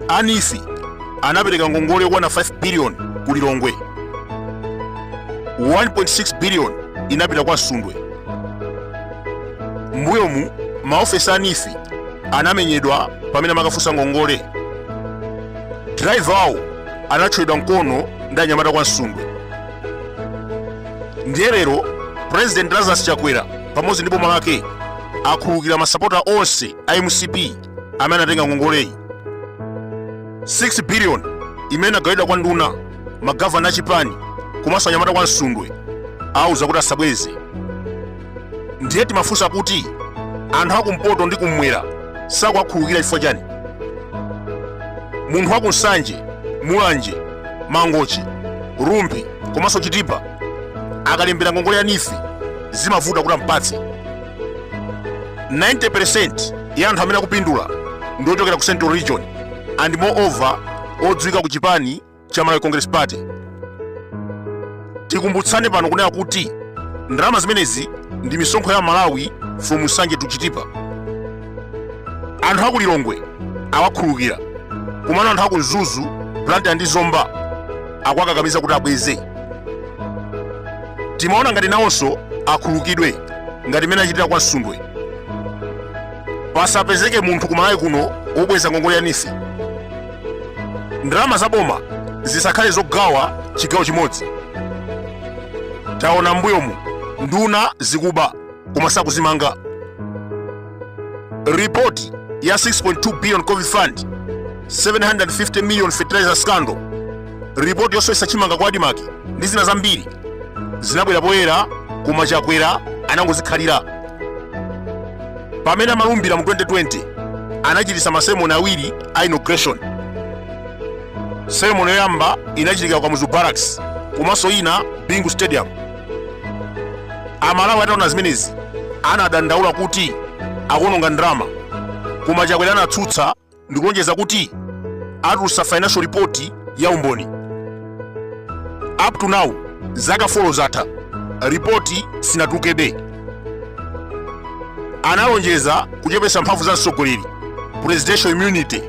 anifi anapereka ngongole yokwana 5 biliyoni ku lilongwe 1.6 biliyoni inapita kwa msundwe mbuyomu maofesa a nifi anamenyedwa pamene amakafunsa ngongole drivawo anathyoledwa mkono ndi anyamata kwa msundwe ndiye lero president lazarus chakwera pamodzi ndi boma lake akhululukira masapota onse a mcp amene anatenga ngongoleyi 6 billion imene inagawidwa kwa nduna magavana achipani komanso anyamata kwa msundwe awauza kuti asabweze ndiye timafunsa kuti anthu akumpoto ndi kummwera sakuwakhululukira chifukwa chani munthu wakunsanje mulanje mangochi rumphi komanso chitipa akalembera ngongole ya nifi zimavuta kuti ampatse 90% ya anthu amene akupindula ndi ochokera ku central region and moreover odziwika ku chipani cha Malawi Congress Party tikumbutsane pano kunena kuti ndalama zimenezi ndi misonkho ya Malawi from Nsanje to Chitipa anthu aku Lilongwe awakhululukira komano anthu aku Mzuzu Blantyre ndi Zomba akwakakamiza kuti abweze timaona ngati nawonso akhululukidwe ngati mmene achitira kwa Msundwe pasapezeke munthu kumalawi kuno wobweza ngongole ya nifi ndalama za boma zisakhale zogawa chigawo chimodzi taona mbuyomu nduna zikuba koma sakuzimanga ripoti ya 6.2 billion covid fund 750 million fertilizer scandal ripoti yosowesa chimanga ku adimaki ndi zina zambiri zinabwera poyera koma chakwera anangozikhalira pamene amalumbira mu 2020 anachititsa maseremoni awiri a inauguration seremoni yoyamba inachitika ku kamuzu barracks komanso ina bingu stadium amalawi ataona zimenezi anadandaula kuti akuononga ndalama koma chakwera anatsutsa ndikulonjeza kuti atulutsa financial report ya umboni up to now zaka folo zatha ripoti sinatulukebe analonjeza kuchepesa mphamvu za mtsogoleri presidential immunity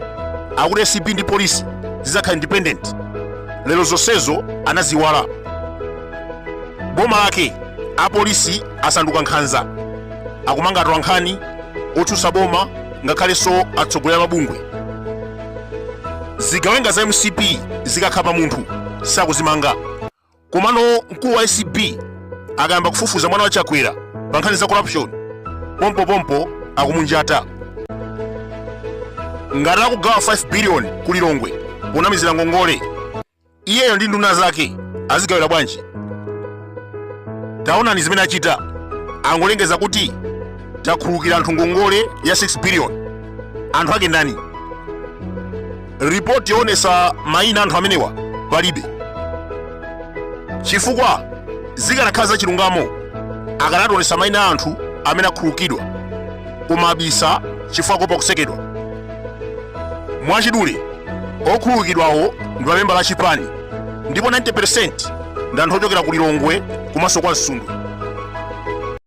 akuti acb ndi polisi zizakhala independent lero zonsezo anaziiwala boma lake apolisi asanduka nkhanza akumanga atolankhani otsutsa boma ngakhalenso atsogoleri a mabungwe zigawenga za mcp zikakhapa munthu sakuzimanga komano mkulu wa acb akayamba kufufuza mwana wa chakwera pa nkhani za corruption pompopompo akumunjata ngati akugawa 5 biliyoni ku lilongwe ponamizira ngongole iyeyo ndi nduna zake azigawira bwanji taonani zimene achita angolengeza kuti takhululukira anthu ngongole ya 6 billion anthu ake ndani ripoti yoonesa mayina a anthu amenewa palibe chifukwa zikanakhala za chilungamo akanationesa mayina a anthu amene akhululukidwa koma abisa chifukwa kuopa kusekedwa mwachidule okhululukidwawo ndi mamembala a chipani ndipo 90% ndi anthu ochokera ku lilongwe komanso kwa msundu